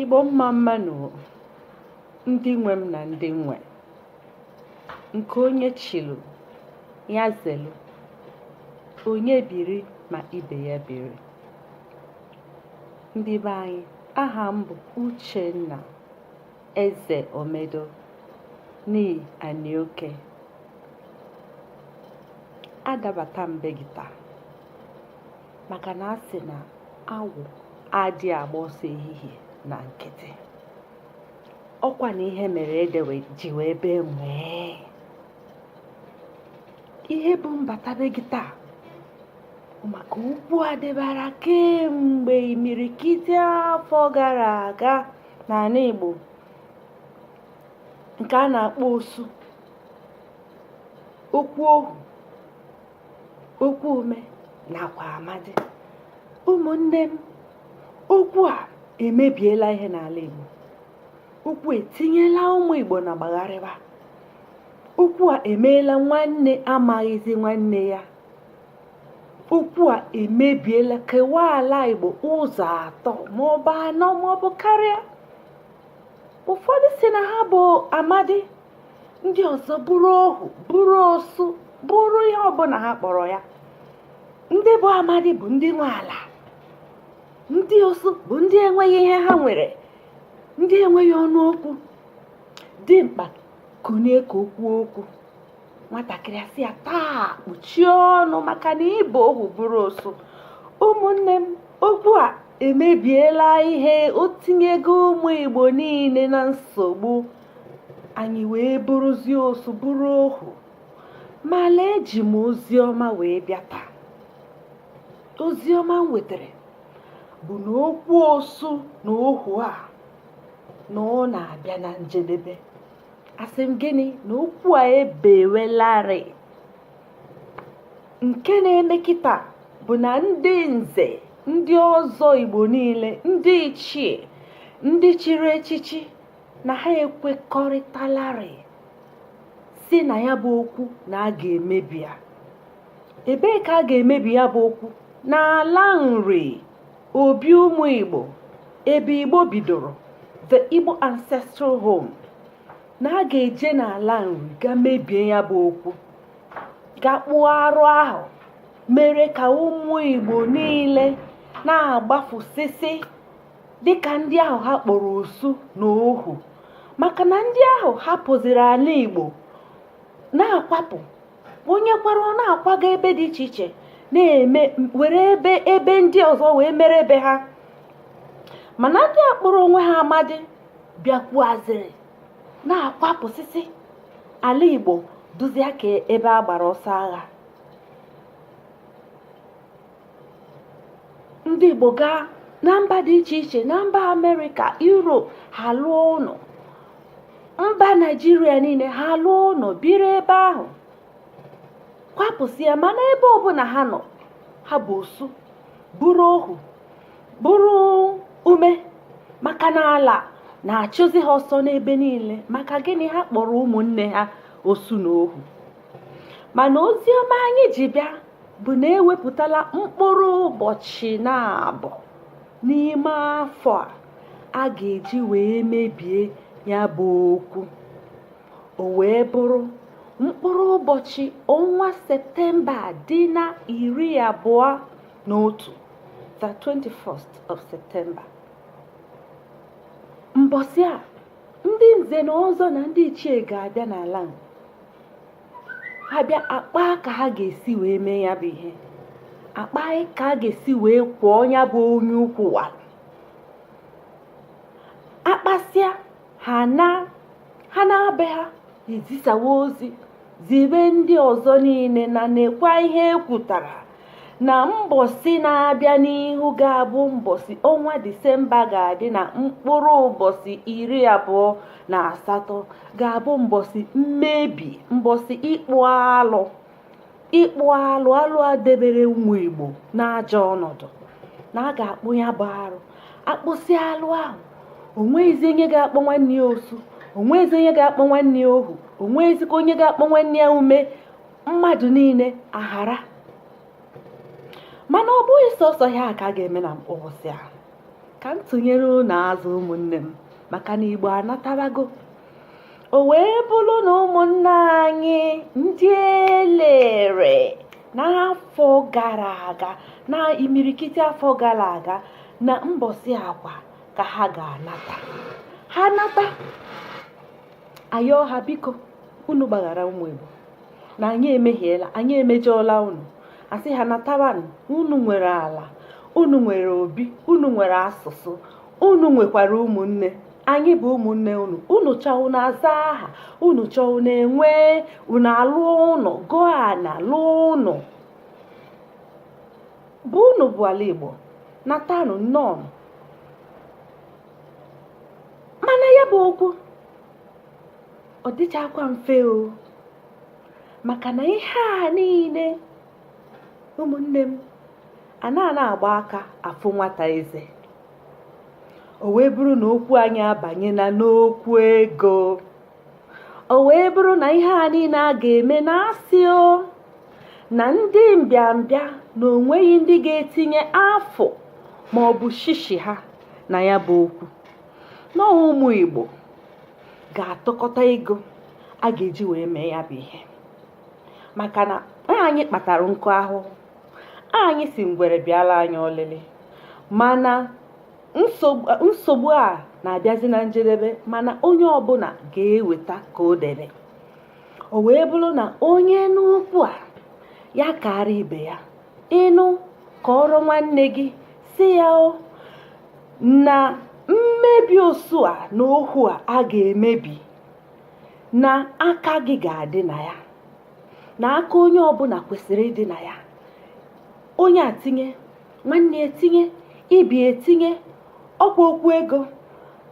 Igbo mma mma nụ ndị nwe m na ndị nwe nke onye chilu ya zelu onye biri ma ibe ya biri ndị be anyị aha m bụ Uchenna Eze Omedo nii Anioke adabata m be gị taa maka na a sị na awọ adị agba ọsọ ehihie na nkịtị ọkwa na ihe mere ede ji wee bee nwii ihe bụ m bata be gị taa maka okwu a dịbara kemgbe imirikiti afọ gara aga n'ala Igbo nke a na-akpọ osu okwu ohu okwu ume nakwa amadi ụmụnne m okwu a emebiela ihe n'ala Igbo okwu etinyela ụmụ Igbo na gbagharịba okwu a emeela nwanne amaghịzi nwanne ya okwu a emebiela kewaa ala Igbo ụzọ atọ maọbụ anọ maọbụ karịa ụfọdụ sị na ha bụ amadi ndị ọzọ bụrụ ohu bụrụ osu bụrụ ihe ọbụla ha kpọrọ ya ndị bụ amadi bụ ndị nwe ala ndị osu bụ ndị enweghị ihe ha nwere ndị enweghị ọnụ okwu dimkpa kunie ka o kwuo okwu nwatakịrị asị ya taa kpuchie ọnụ maka na ị bụ ohu bụrụ osu ụmụnne m okwu a emebiela ihe o tinyego ụmụ igbo niile na nsogbu anyị wee bụrụzie osu bụrụ ohu ma lee eji m ozi ọma wee bịa taa ozi ọma m wetara bụ na okwu osu na ohu a na ọ na-abịa na njedebe asị m gịnị na okwu a ebewelarị nke na-eme kịta bụ na ndị nze ndị ọzọ igbo niile ndị ichie ndị chiri echichi na ha ekwekọrịtalarị sị na ya bụ okwu na a ga-emebi ya ebee ka a ga-emebi ya bụ okwu n'ala nri obi ụmụ igbo ebe igbo bidoro the igbo ancestral home na a ga-eje n'ala nri gaa mebie ya bụ okwu gaa kpụọ arụ ahụ mere ka ụmụ igbo niile na-agbafusịsị dị ka ndị ahụ ha kpọrọ osu na ohu maka na ndị ahụ hapụziri ala igbo na-akwapụ onye kwara ọ na-akwaga ebe dị iche iche na-eme were ebe ebe ndị ọzọ wee mere ebe ha mana ndị a kpọrọ onwe ha amadi bịakwuaziri na-akwapụsịsị ala igbo duzia ka ebe a gbara ọsọ agha ndị igbo gaa na mba dị iche iche na mba amerịka europe ha lụọ ụnọ mba naijiria niile ha lụọ ụnọ biri ebe ahụ kwapụsịa mana ebe ọbụna ha nọ ha bụ osu bụrụ ohu bụrụ ume maka na ala na-achụzi ha ọsọ n'ebe niile maka gịnị ha kpọrọ ụmụnne ha osu na ohu mana ozi ọma anyị ji bịa bụ na ewepụtala mkpụrụ ụbọchị naabọ n'ime afọ a a ga-eji wee mebie ya bụ okwu o wee bụrụ mkpụrụ ụbọchị ọnwa septemba dị na iri abụọ na otu the 21st of september mbọsị a ndị nze na ọzọ na ndị ichie ga-abịa n'ala ha bịa akpa ka ha ga-esi wee mee ya bụ ihe akpa ka a ga-esi wee kwụọ ya bụ onye ukwu wa akpasịa ha naa ha naa be ha ezisawa ozi zibe ndị ọzọ niile na nekwa ihe ekwutara na mbọsị na-abịa n'ihu ga-abụ mbọsị ọnwa disemba ga-adị na mkpụrụ ụbọsị iri abụọ na asatọ ga-abụ mbọsị mmebi mbọsị ịkpụ alụ ịkpụ alụ alụ a debere ụmụ igbo n'ajọ ọnọdụ na a ga-akpụ ya bụ arụ akpụsị alụ ahụ onweghịzi onye ga-akpọ nwanne ya osu onweghịzi onye ga-akpọ nwanne ya ohu onweghịzikwa onye ga-akpọ nwanne ya ume mmadụ niile ahara mana ọ bụghị sọsọ ihe a ka a ga-eme na mbọsị ahụ ka m tụnyere unu azụ ụmụnne m maka na igbo anatarago o wee bụrụ na ụmụnne anyị ndị elere n'afọ gara aga na imirikiti afọ gara aga na mbọsị a kwa ka ha ga-anata ha nata ayọọ ha biko unu gbaghara ụmụ Igbo na anyị emehiela anyị emejọọla unu asị ha natabanụ unu nwere ala unu nwere obi unu nwere asụsụ unu nwekwara ụmụnne anyị bụ ụmụnne unu unu chọọ unu aza aha unu chọọ unu enwe unu alụọ unu goo ana lụọ ụnọ bụ unu bụ ala Igbo natanụ nnọọ mana ya bụ okwu ọ dịchakwa mfe o maka na ihe a niile ụmụnne m a na-ana agba aka afụ nwata eze o wee bụrụ na okwu anyị abanyena n'okwu ego o wee bụrụ na ihe a niile a ga-eme na asị o na ndị mbịambịa na onweghị ndị ga-etinye afụ ma ọ bụ shishi ha na ya bụ okwu na ụmụ Igbo ga-atụkọta ego a ga-eji wee mee ya bụ ihe maka na anyị kpatara nkụ ahụhụ anyị sị ngwere bịala anyị olili mana nsogbu a na-abịazi na njedebe mana onye ọbụla ga-eweta ka o debe o wee bụrụ na onye nụ okwu a ya kara ibe ya ị nụ kọọrọ nwanne gị sị ya o na mmebi osu a na ohu a a ga-emebi na aka gị ga-adị na ya na aka onye ọbụla kwesịrị ịdị na ya onye a tinye nwanne etinye ibe etinye ọkwa okwu ego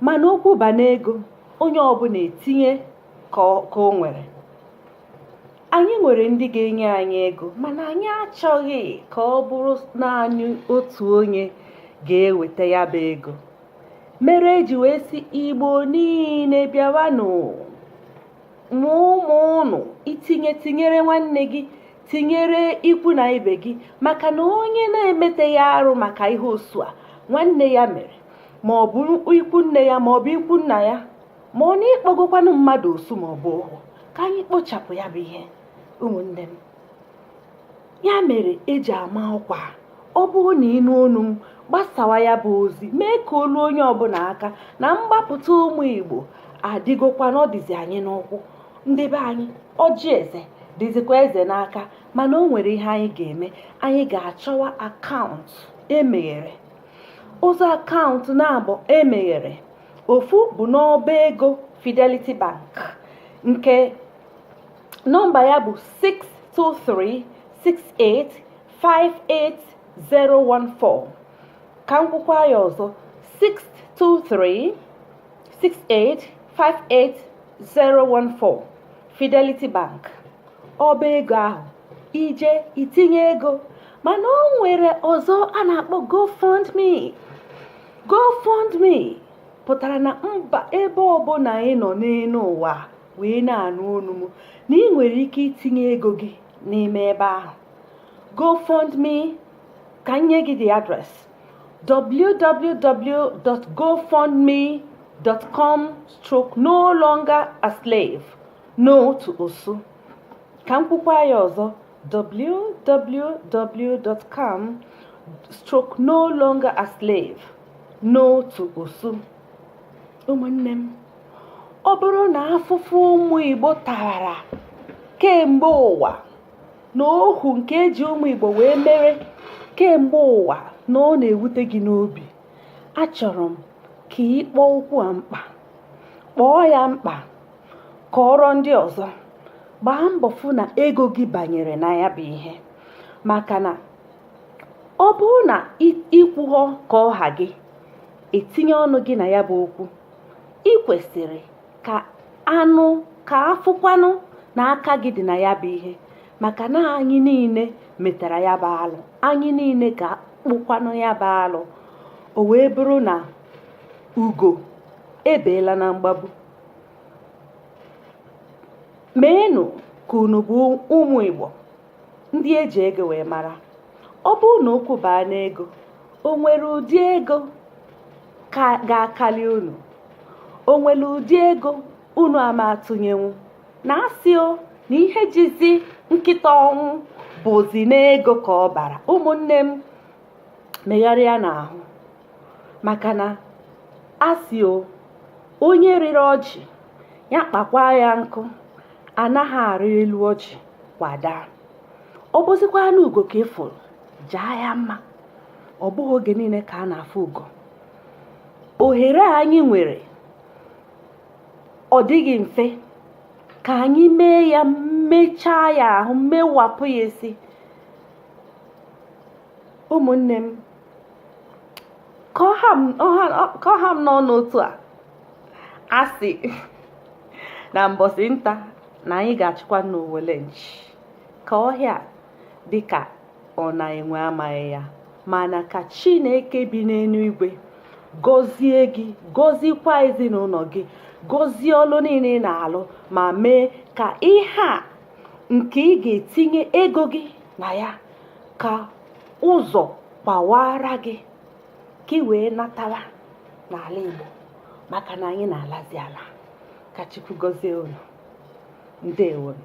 mana okwu baa n'ego onye ọbụla etinye ka o nwere anyị nwere ndị ga-enye anyị ego mana anyị achọghị ka ọ bụrụ naanị otu onye ga-eweta ya bụ ego mere eji wee sị igbo niile bịawanụ ma ụmụ unu i tinye tinyere nwanne gị tinyere ikwu na ibe gị maka na onye na-emeteghị arụ maka ihe osu a nwanne ya mere ma ọ bụ ikwu nne ya ma ọ bụ ikwu nna ya ma ọ na ị kpọgokwanụ mmadụ osu ma ọ bụ ohu ka anyị kpochapụ ya bụ ihe ụmụnne m ya mere eji ama ọkwa ọ bụrụ na ị nụ onu m gbasawa ya bụ ozi mee ka o luo onye ọbụla aka na mgbapụta ụmụ igbo adịgokwa na ọ dịzi anyị n'ụkwụ ndị be anyị ọjị eze dịzikwa eze n'aka mana o nwere ihe anyị ga-eme anyị ga-achọwa akaụntụ emeghere ụzọ akaụntụ naabọ emeghere ofu bụ n'ọba ego Fidelity Bank nke nọmba ya bụ 6236858014 ka m kwukwa ya ọzọ 6236858014 Fidelity Bank ọba ego ahụ ije itinye ego mana o nwere ọzọ a na-akpọ GoFundMe GoFundMe pụtara na mba ebe ọbụla ị nọ n'elu ụwa wee na-anụ onu m na ị nwere ike itinye ego gị n'ime ebe ahụ GoFundMe ka m nye gị the address www.gofundme.com/no longer a slave no to osu Ka m kwukwa ya ọzọ www.com stroke no longer a slave no to osu ụmụnne m ọ bụrụ na afụfụ ụmụ Igbo tara kemgbe ụwa na ohu nke eji ụmụ Igbo wee mere kemgbe ụwa na ọ na-ewute gị n'obi achọrọ m ka ị kpọọ okwu a mkpa kpọọ ya mkpa kọọrọ ndị ọzọ gbaa mbọ fụ na ego gị banyere na ya bụ ihe maka na ọ bụrụ na i kwughọ ka ọ ha gị etinye ọnụ gị na ya bụ okwu ị kwesịrị ka a fụkwanụ na aka gị dị na ya bụ ihe maka na anyị niile metara ya bụ alụ anyị niile ga-akpụkwanụ ya bụ alụ o wee bụrụ na ugo ebeela na mgbagbu meenụ ka unu bụ ụmụ Igbo ndị eji ego wee mara ọ bụrụ na okwu baa n'ego o nwere ụdị ego ga-akali unu o nwere ụdị ego unu ama atụnyenwu na asị o na ihe jizi nkịta ọnwụ bụzi n'ego ka ọ bara ụmụnne m megharịanụ ahụ maka na asị o onye rịrị ọjị ya kpakwa ya nkụ anaghị arị elu ọjị kwa daa ọ bụzikwanụ ugo ka ị fụrụ jaa ya mma ọ bụghị oge niile ka a na-afụ ugo ohere a anyị nwere ọ dịghị mfe ka anyị mee ya mechaa ya ahụ mewapụ ya isi ụmụnne m ka ọ ha m n'ọnụ otu a a sị na mbọsị nta na anyị ga-achụkwa n'owele nchi ka ọhịa dịka ọ na enwe amaghị ya mana ka chineke bi n'elu igwe gọzie gị gọzikwa ezinụlọ gị gọzie ọlụ niile ị na-alụ ma mee ka ihe a nke ị ga-etinye ego gị na ya ka ụzọ gbawaara gị ka ị wee natawa n'ala Igbo maka na anyị na-alazi ala ka Chukwu gọzie unu ndewonu